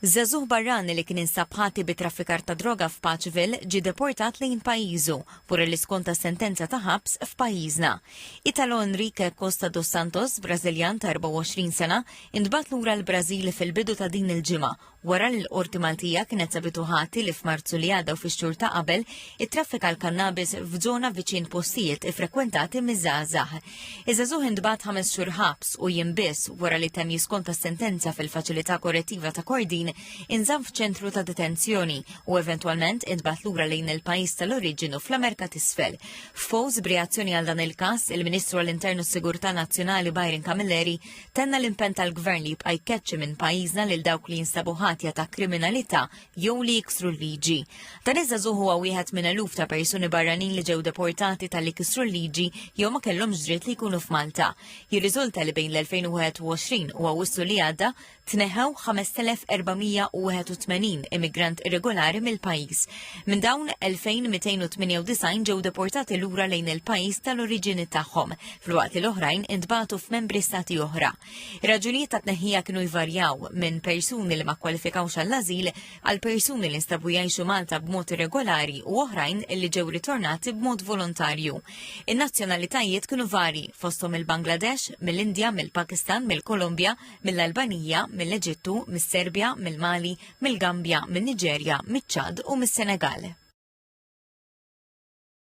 Żagħżugħ barrani li kien instab ħati bi traffikar ta' droga f'Patchville ġie deportat lejn pajjiżu wara li skonta sentenza ta' ħabs f'pajjiżna. Italo Enrique Costa dos Santos, Brażiljan ta' 24 sena, intbagħat lura l-Brażil fil-bidu ta' din il-ġimgħa wara li l-Qorti Maltija kienet sabitu ħati li f'Marzu li għadda u fix-xhur ta' qabel ittraffika l-kannabis f'żona viċin postijiet ifrekwentati miż-żgħażagħ. Iż-żagħżugħ intbagħat ħames xhur ħabs u jiem biss wara li temm jiskonta s-sentenza fil-Faċilità Korrettiva ta' Kordin inżamm f'ċentru ta' detenzjoni u eventwalment intbagħat lura lejn il-pajjiż tal-oriġinu fl-Amerika t'Isfel. F'post b'reazzjoni għal dan il-każ, il-Ministru għall-Internu Sigurtà Nazzjonali Byron Camilleri tenna l-impenn tal-Gvern li jibqa' jkeċċi minn pajjiżna lil dawk li jinstabu ħatja ta' kriminalità jew li jiksru l-liġi. Dan iż-żagħżugħ huwa wieħed minn eluf ta' persuni barranin li ġew deportati tal-li kisru l-liġi jew ma kellhomx dritt li jkunu f'Malta. Jirriżulta li bejn l-2021 u Awwissu li għadda tneħħew 5481 immigrant irregolari mill-pajjiż. Minn dawn 2298 ġew deportati lura lejn il-pajjiż tal-oriġini tagħhom, filwaqt li l-oħrajn intbagħtu f'membri stati oħra. Ir-raġunijiet ta' tneħħija kienu jvarjaw minn persuni li ma kwalifikawx għall-ażil għal persuni li nstabu jgħixu Malta b'mod irregolari u oħrajn li ġew ritornati b'mod volontarju. In-nazzjonalitajiet kienu vari fosthom il-Bangladesh, mill-Indja, mill-Pakistan, mill-Kolombja, mill-Albanija, mill-Eġittu, mis-Serbja, mill-Mali, mill-Gambja, min-Niġerja, miċ-Ċad u mis-Senegal.